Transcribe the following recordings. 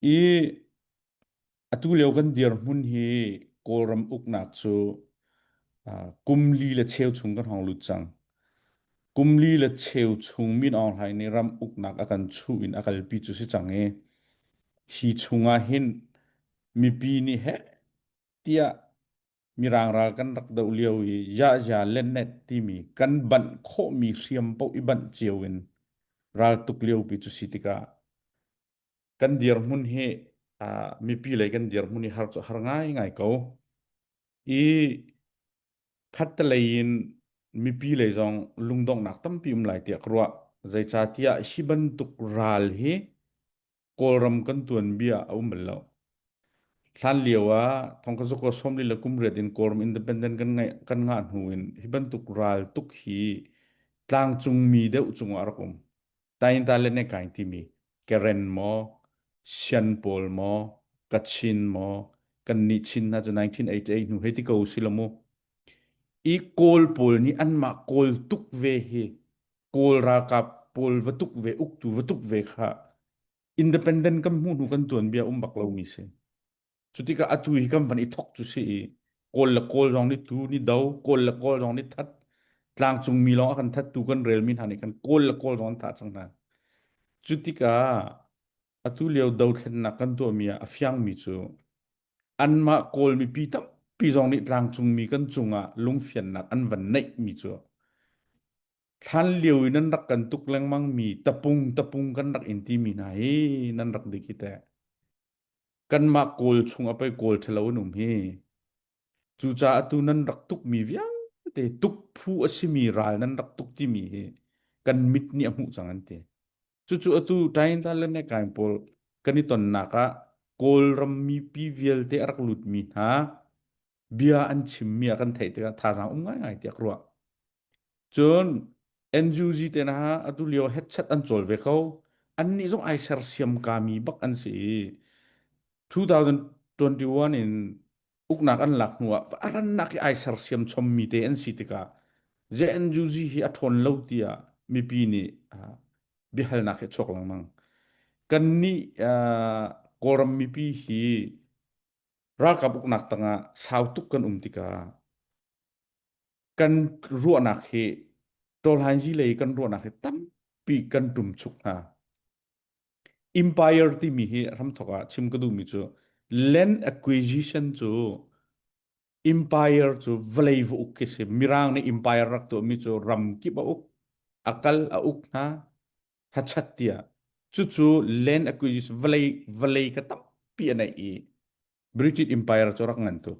I atu lio kan dirhmun hi Kawlram uknak cu uh, kum li le cheu chung kan hong lut cang. Kum li le cheu chung min Aung Hlaing nih ram uknak a kan chuh in a kalpi cu si cang i hi chungah hin mipi nih heh tiah Mirang ral kan rak doh lio i Yahya Lenet timi kan banh khawhmi hriam paoh i banh cio in raltuk liopi cu si tikah kan dirhmun hi uh, mipi lei kan dirhmun hi har cu har ngaingai ko i khattelei in mipi lei zong lungdonghnak tampi um lai tiah ka ruah zeicahtiah hi bantuk ral hi Kawlram kan tuanbia a um bal lo. Hlan lio ah thongkang sukua sawm li le kum riat in Kawlram independent kan ngaih kan ngah hnu in hi bantuk ral tuk hi tlangcung mi deuh cungah rak um. Tain ta le ne kain timi Karen maw Sian pawl maw Kachin maw kan nih Chin hna cu 1988 hnu hei ti ko si lo mu. I Kawl pawl nih anmah Kawl tuk ve hi Kawl ralkap pawl va tuk ve, uktu va tuk ve kha independent kan hmu hnu kan tuanbia um bak lomi si. Cu tikah atu hi kan van i thok cu si i Kawl le Kawl zong nih tu ni do, Kawl le Kawl zong nih that tlangcung mi lawng a kan that tu kan relmi hna nih kan Kawl le Kawl zong an thah cang hna. Cu tikah atu lio dothlennak kan tuahmi ah a fiangmi cu anmah Kawl mipi tampi zong nih tlangcungmi kan cungah lungfiannak an van neihmi cu hlan lio in nan rak kan tuk lengmang mi tapung tapung kan rak in timi hna hi nan rak dik hi teh kanmah Kawl chung a pei Kawl ṭhalo an um hi cucaah atu nan rak tukmi vialte tuk phu a simi ral nan rak tuk timi hi kan mit nih a hmuh cang an ti. Cucu atu Taintan le Mekaing pawl kan i tonnak ah Kawlram mipi vialte a rak lutmi hna bia an chimmi a kan theih tikah thazaang um ngaingai tiah ka ruah. Cun NUG te hna atu lio headset an cawl ve ko. Annih zong ai sersiam kami bak an si i 2021 in uknak an lak hnu ah arannak i ai sersiam chommi te an si tikah JNUG hi a ṭhawn lo tiah mipi nih biahalnak hi a chuak lengmang. Kan nih Kawlram mipi hi ralkap uknak tangah sau tuk kan um tikah kan ruahnak hi ṭawlhainzi lei kan ruahnak hi tampi kan ṭum chuk hna. Empire timi hi hramthok ah chim ka duhmi cu land acquisition cu empire cu vawlei va uk khi si mirang nih empire rak tuahmi cu ram kip a uk a kal a uk hna thachat tiah cucu land acquisition vawlei vawlei ka tampi a neih i British Empire cu rak ngan tuk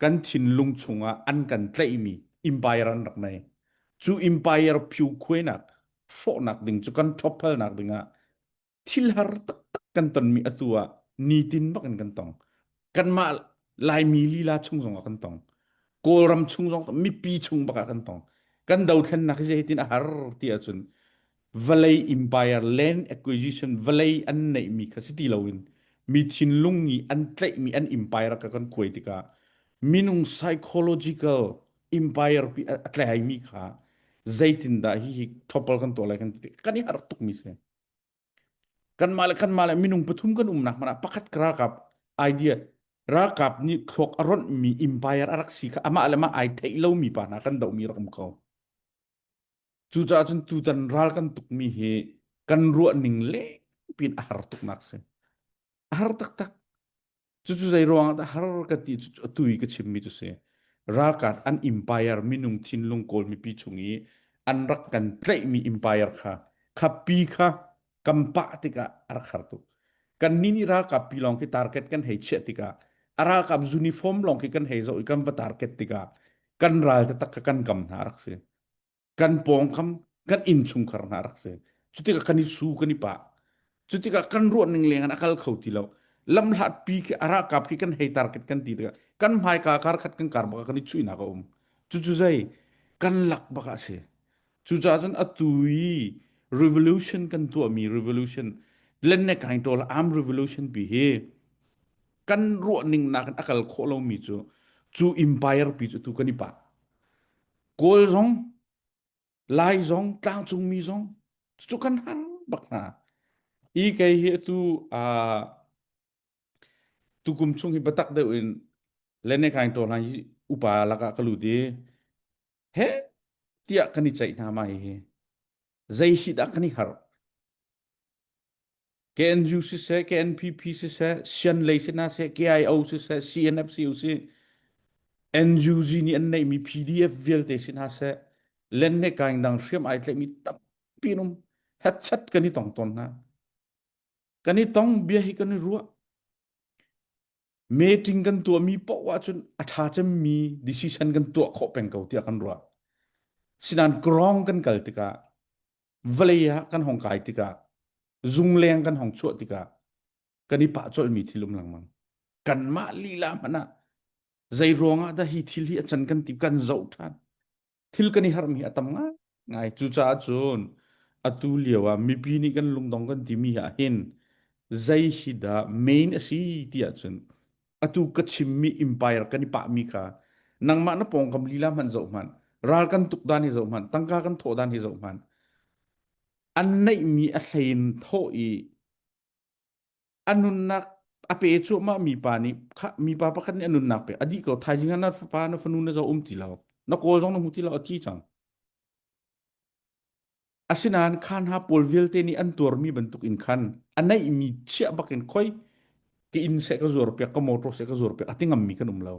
kan thinlung chungah an kan tlaihmi empire an rak nei cu empire phyu khuainak hrawhnak ding cu kan ṭhophalnak dingah thil har taktak kan tonmi atu ah nitin bakin kan tong kanmah laimi lila chung zongah kan tong kawlram chung zong mipi chung bakah kan tong kan dothlennak hi zeitin a har ti ahcun vawlei empire land acquisition vawlei an neihmi kha si ti loin mi thinlung i an tlaihmi an empire ka kan kuai tikah minung psychological empire pi a tlaihmi kha zeitindah hi hi thopal kan tuah lai kan ti kan i harh tukmi si kanmah le kanmah le minung pathum kan umnak man ah pakhat ka ralkap idea ralkap nih thluak a ronhmi empire a rak si kha amah le mah ai theih lomi pa hna kan dohmi rak um ko Cucaah cun tutan ral kan tukmi hi kan ruahning lengpin a har tuknak si. A har taktak. Cucu zei ruangah dah har ka ti cu a tui ka chimmi cu si. Ralkap an empire minung thinlung kawl mipi chung i an rak kan tlaihmi empire kha khapi kha kan pah tikah a rak har tuk. Kan ni nih ralkap pi lawng khi target kan hei chiah tikah a ralkap uniform lawng khi kan hei zoh i kan va target tikah kan ral taktak kha kan kam hna a rak si. kan pawngkam kan innchungkhar hna rak si cutikah kan i su kan i pa cutikah kan ruahning lengin a kal kho ti lo lamhlat pi khi arakap khi kan hei target kan ti tikah kan hmaika kar khat kan kar baka kan i chuihnak a um cucu zei kan lak baka si cucaah cun atu i revolution kan tuahmi revolution lenne kain tol am revolution pi hi kan ruahning nakin a kal khawh lomi cu cu empire pi cu tu kan i pa Kawl zong, Lai zong, tlangcungmi zong, cucu kan han bak hna. Hi kei hi atu uh, tukum chung hi batak deuh in lene kain to hlan hi upa lakah ka lut i he tiah kan i ceih hna ma hi hi Zei hi dah kan i harh? KNU siseh, KNPP siseh, Sian lei sinah siseh, KIO siseh, CNFCU siseh, NUG nih an neihmi PDF vialte sinah seh, len le kaing dang hriam ai tlaihmi tampi um headset kan i tong tawn hna. Kan i tong bia hi kan i ruah. meeting kan tuahmi poh ahcun a ṭha cemmi decision kan tuah khawh peng ko tiah kan ruah. Sinan grong kan kal tikah, vawlei ah kan hong kai tikah, zungleng kan hong chuah tikah, kan i pah colmi thilum lengmang. Kanmah lila hmanh ah, zei ruangah dah hi thil hi a can kan ti kan zoh ṭhan. thil kan i harhmi a tam ngai. Cucaah cun atu lio ah mipi nih kan lungdong kan timi ahhin zei hi dah main a si ti ahcun atu ka chimmi empire kan i pahmi kha nangmah na pawngkam lila hmanh zoh hmanh, ral kan tuk dan hi zoh hmanh, tangka kan thawh dan hi zoh hmanh, an neihmi a hlein thawh i a nunnak a pe cuahmah mi pa nih mipa pakhat nih a nunnak pe a dih ko thaizing na fapa na fanu na zo um ti lo na kawl zong na hmu ti lo a ti cang asinain khan ha pawl vialte nih an tuar mi bantuk in khan a neih mi chiah bakin khoi ka inn se ka zuar piak ka motor se ka zuar piak ati ngam mi kan um lo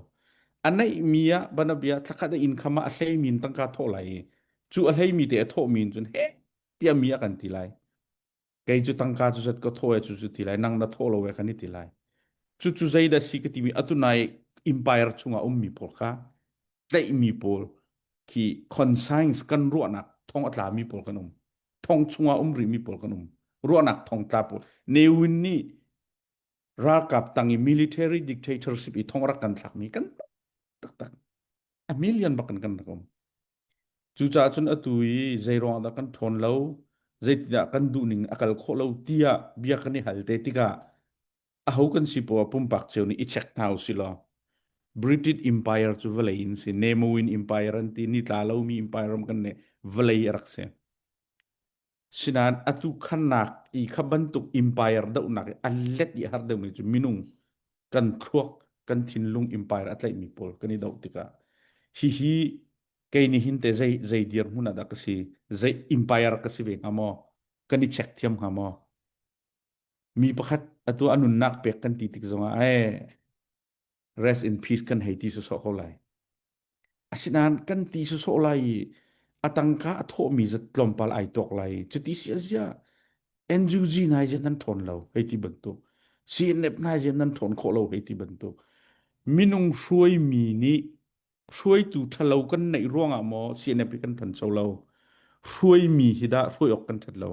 a neih mi a bana bia thlakhat in khama a hlei min tangka thaw lai i cu a hlei mi te a thaw min cun he tia mi a kan ti lai kei cu tangka cu zat ka thaw e cu cu ti lai nang na thaw lo e kan i ti lai cucu zei dah si ka timi atu nai empire chungah ummi pawl kha tlaihmi pawl khi conscience kan ruahnak thong a tlami pawl kan um thong chungah um rihmi pawl kan um ruahnak thong tla pawl newin nih ralkap tang i military dictatorship i thong rak kan thlakmi kan taktak a million bak in kan rak um Cucaah cun atu i zeiruangah dah kan ṭhawn lo, zeitindah kan duhning a kal khawh lo tiah bia kan i hal te tikah aho kan si poah pumpak cio nih i check hna u si law British Empire cu vawlei in si, Nemo in Empire an ti, nitla lomi Empire ram kan nih vawlei a rak si. Sinain atu khannak i kha bantuk empire dohnak i an let i a har deuhmi cu minung kan thluak kan thinlung empire a tlaihmi pawl kan i doh tikah hihi kei nih hin te zei zei dirhmun ah dah ka si zei empire ka si ve hnga maw kan i check thiam hnga maw mi pakhat atu a nunnak pek kan ti tik zongah ai rest in peace kan hei ti sawsawh ko lai asinain kan ti sawsawh lai i a tangka a thawhmi zat tlawmpal ai tuak lai cuti sia zia NUG nai je nan ṭhawn lo hei ti bantuk CNF nai je nan ṭhawn khawh lo hei ti bantuk minung hruaimi nih hruaitu ṭhalo kan neih ruangah maw CNF hi kan ṭhan so lo hruaimi hi dah hruai awk kan ṭhat lo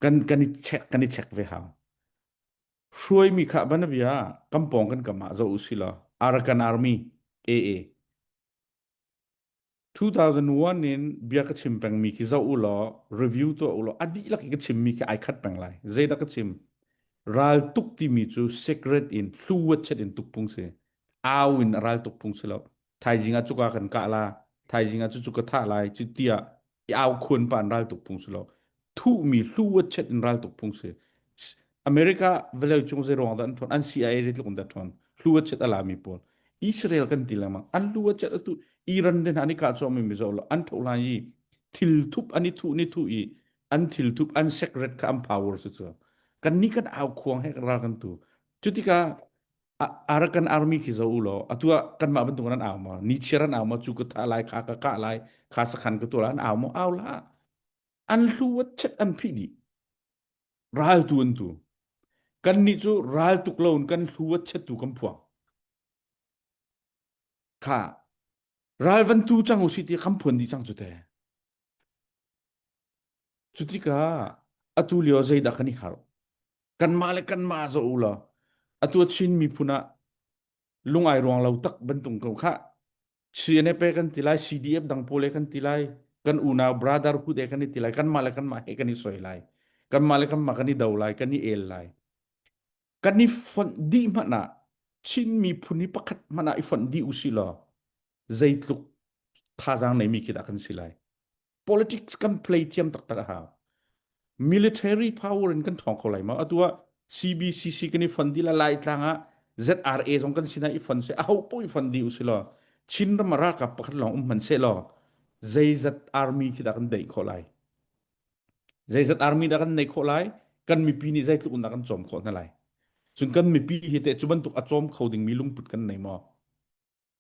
kan kan i check kan i check ve hau Hruaimi kha bana bia kan pawng kan kam ah zoh u si law Arakan Army AA 2001 in bia ka chim pengmi khi zoh u law review tuah u law a dihlak i ka chimmi khi ai khat peng lai zeidah ka chim ral tuk timi cu secret in hluwat chet in tukpung si au in ral tukpung si lo thaizing ah cuka kan kah la thaizing ah cu cu ka thah lai cu ti ah i au khuan pa in ral tuk phung si lo thuhmi hlu chet in ral tuk phung si america vale chung ze ruang da an thon an cia ze tluk da thon hlu chet ala mi pawl israel kan ti lama an hlu chet atu iran den ani ka cho mi mi zo lo an tho lan yi thil thup ani thu ni thu i an thil thup an secret ka am power su chu kan ni kan au khuang he ral kan tu cutika arakan army khi zo ulo atua kanmah bantuk an au mo ni chiar an au mo chu ka tha lai kha ka ka lai kha sakhan ka tola an au mo au la an hlu wat chet an phi di ral tu an tu kan ni chu ral tuk lo kan hlu wat chet tu kam phuang kha ral van tu chang u si ti kham phuan di chang chu te Cutikah atu lio zeidah kan i harh? Kanmah le kanmah zoh u law atu a Chin miphun ah lungai ruang lo tak bantuk ko khah. CNFA kan ti lai, CDF dang pawl he kan ti lai, kan unau brotherhood he kan i ti lai, kanmah le kanmah he kan i soi lai, kanmah le kanmah kan i do lai, kan i el lai. kan i fonh dih hmanh ah Chin miphun hi pakhat hmanh ah i fonh dih u si law zeitluk thazaang neimi khi dah kan si lai politics kan play thiam taktak a hau military power in kan thawng kho lai ma atu ah CBCC kan i fon di la lai tlang ah ZRA zong kan sinah i fon se a ho po i fon di u si law Chin ram ralkap pakhat lawng um hman se law zeizat army khi dah kan daih khawh lai Zeizat army dah kan nei khawh lai? Kan mipi nih zeitluk in dah kan cawm khawh hna lai? Cun kan mipi hi teh cu bantuk a cawm kho dingmi lungput kan nei maw?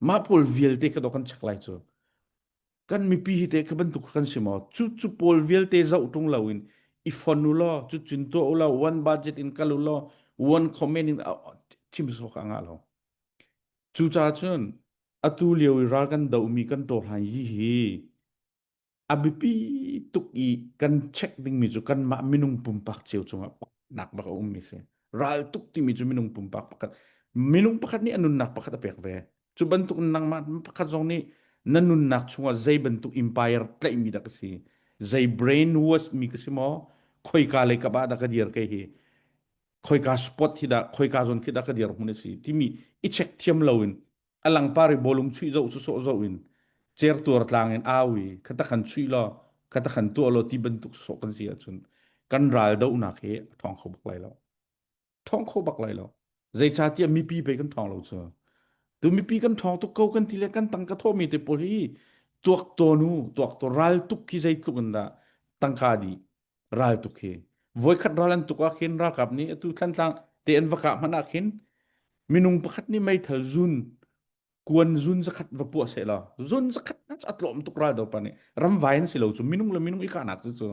Mah pawl vialte ka do kan check lai cu. Kan mipi hi teh ka bantuk kan si maw? Cu cu pawl vialte zoh tung loin i fon u law, cu cun tuah u law, one budget in kal u law, one comment in chim sawk a ngah lo. Cucaah cun atu lio i ral kan domi kan tawhlan hi hi a biapi tuk i kan check dingmi cu kanmah minung pumpak cio cungah nak bak a ummi si. Ral tuk timi cu minung pumpak pakhat, minung pakhat nih a nunnak pakhat a pek ve. Cu bantuk nangmah pakhat zong nih na nunnak chungah zei bantuk empire tlaihmi dah ka si, zei brainwash mi ka si maw, khoika lei kap ah dah ka dir ke hi, khoika spot hi dah, khoika zon khi dah ka dir hun a si, timi i check thiam loin a langpari bolum chuih zo cu sawh zo in cer tuar tlang in au i khata kan chuih lo khata kan tuah lo ti bantuk sawh kan si ahcun kan ral dohnak hi a thong kho bak lai lo thong kho bak lai lo zeicahtiah mipi pei kan thong lo cu tu mipi kan thong tuk ko kan ti le kan tang ka thomi te pawl hi tuak to nu tuak to ral tuk hi zeitluk in dah tangka di ral tuk hi voikhat ral an tuk ah khin ralkap nih atu thantlang te an va kah hmanh ah khin minung pakhat nih meithal zun kuan zun zakhat va puah se la zun zakhat na a tlawm tuk ral do pa nih ramvai an si lo chu minung le minung i kahnak chu chu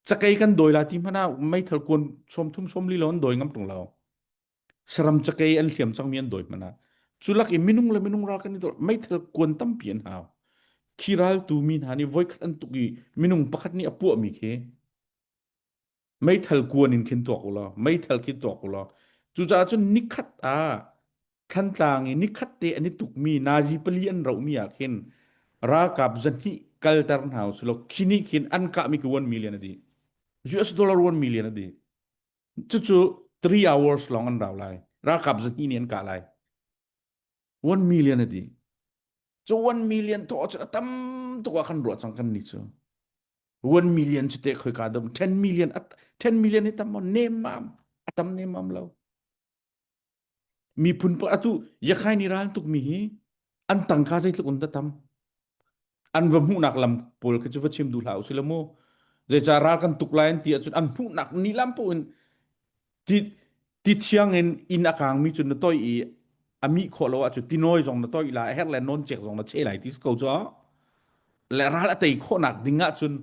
chakei kan doi la ti hmana meithal kuan som thum som li lo an doi ngam tung lao saram cakei an hliam cangmi an dawi hmana cu lak i minung le minung ral kan i dor meithal kuan tampi an hau khi ral tu mi hna nih voikhat an tuk i minung pakhat nih a puah mi khi meithal kuan in khin tuak ula meithal khi tuak ula cucaah cun nikhat ah thantlang i nikhat te an i tukmi nazi pali an rohmi ah khin ralkap zanhi kalter hna usilaw khini khin an kahmi ki 1 million adi US dollar 1 million adi Cucu three hours lawng an rau lai. Ralkap zahnih nih an kah lai. One million a dih. Cu one million thawh cu a tam tuk ah kan ruah cang kan ni cu. One million cu teh khoi ka dom. Ten million, ten million hi tam maw? Nem mam. A tam nem mam lo. Miphun pa atu Yakhai ni ral tukmi hi an tangka zeitluk in dah tam an va hmuhnak lam pawl kha cu va chim duh hlah u sila mu zeicah ral kan tuk lai an ti ahcun an hmuhnak ni lam in ti ti thiang in inn a kangmi cu na toi i a mih khawh lo ahcun tinawi zong na toi la a herh le non cek zong na che lai ti ko cu le ral a tei khawhnak ding ahcun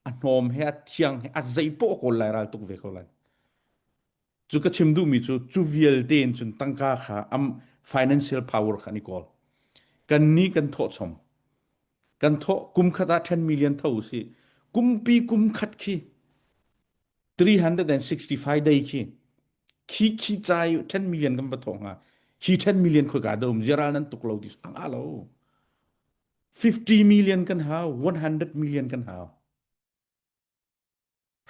a hnawm he a thiang he a zei poh a kawl lai ral tuk ve ko lai Cu ka chim duhmi cu cu vialte in cun tangka kha am financial power kha an i kawl. Kan ni kan thawh chom. Kan thawh kum khat ah 10 million tho u si. Kumpi kum khat khi 365 day khi khi khi cai 10 million kan va thawng ha hi 10 million kho ka da um ziral nan tuk lo ti ang a lo 50 million kan hau 100 million kan hau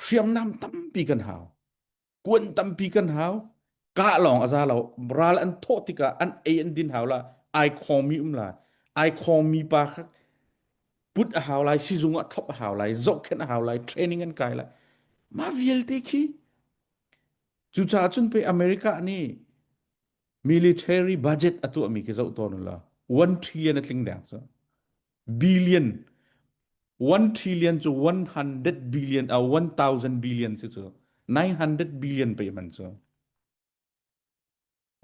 hriamnam tampi kan hau kuan tampi kan hau kah lawng a za lo ral an thawh tikah an ei an din hau la ai khomi um lai ai khomi pa kha put a hau lai sizung ah thop a hau lai zohkhen a hau lai training an kai lai ma vialte khi cucaah cun pe america nih military budget a tuahmi khi zoh tawn la one trillion a tling deng cu billion 1 trillion cu 100 billion a 1000 billion si cu 900 billion pe man cu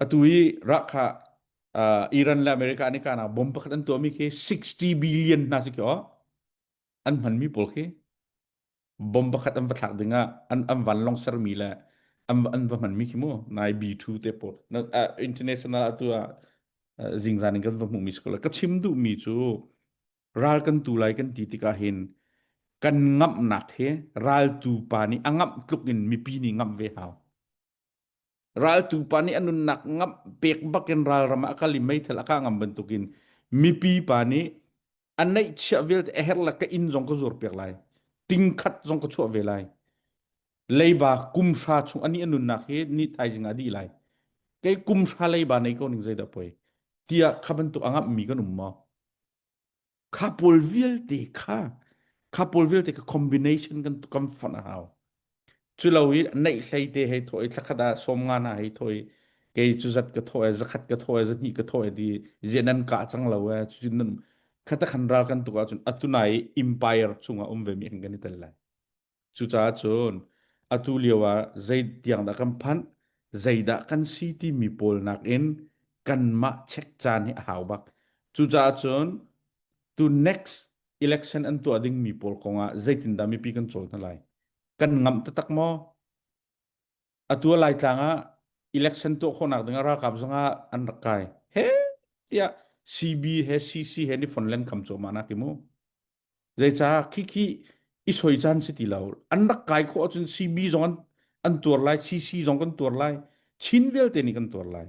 atu i rakha uh, Iran le America ni kana bomb pakhat an tuami khi 60 billion na si kyo an hmanmi pawl khi bomb pakhat an va thlak ding ah an an vanlong sermi le an an va hmanmi khi mu nai B2 te pawl na uh, international atu ah uh, zingzan in kan va hmuhmi si ko ka chim duhmi cu ral kan tu lai kan ti tikah hin kan ngamhnak he ral tu pa nih a ngamh tluk in mipi nih ngamh ve hau Raltu pa nih a nunnak ngamh pek bakin ralram ah a kal i meithal a kah ngam bantukin mipi pa nih a neihchiah vialte a herh le ka inn zong ka zuar piak lai tingkhat zong ka chuah ve lai leiba kumhra chung ani a nunnak hi ni thaizing ah dih lai kei kumhra leiba nei ko ning zeidah poi tiah kha bantuk angah mi kan um maw Kha pawl vialte kha kha pawl vialte ka combination kan kan fonh a hau. Cu lo i neih hlei te hei thaw i thlakhat ah sawmnga hna hei thaw i kei cu zat ka thaw e, zakhat ka thaw e, zahnih ka thaw e ti zia nan kah cang lo e. Cucun nan khatakhan ral kan tuk ahcun atunai i empire chungah um ve mi kan kan i tel lai. Cucaah cun atu lio ah zei tiang dah kan phanh, zeidah kan si timi pawl nakin kanmah check caan hi a hau bak. Cucaah cun tu next election an tuah dingmi pawl kongah zeitindah mipi kan cawl hna lai? Kan ngamh taktak maw? Atu a Laitlang ah election tuah khawhnak ding ah ralkap zongah an rak kai. He tiah CB he CC he ni fonlen kam cawma na ti mu. Zeicah khikhi i soi caan si ti lo. An rak kai khawh ahcun CB zong an, an tuar lai, CC zong kan tuar lai, Chin vialte nih kan tuar lai.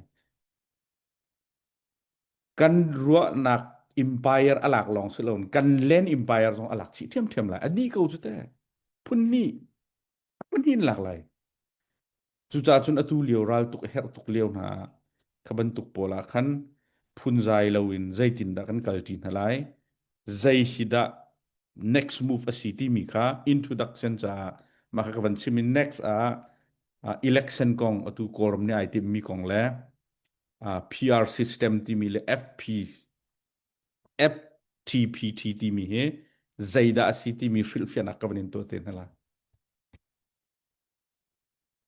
Kan ruahnak empire a lak lawng si lo, kan land empire zong a lak chih ṭhiamṭhiam lai. A dih ko cu teh. Phun hnih Pahnih in lak lai. Cucaah cun atu lio raltuk a herh tuk lio hna ah kha bantuk pawl ah khan phunzai loin zeitindah kan kalṭi hna lai, zei hi dah next move a si timi kha introduction caah mah kha ka van chim i next ah uh, election kong atu kawlram nih ai timmi kong le uh, PR system timi le FP FTPT timi hi zeidah a si timi hrilhfiahnak ka van in tuah te hna la.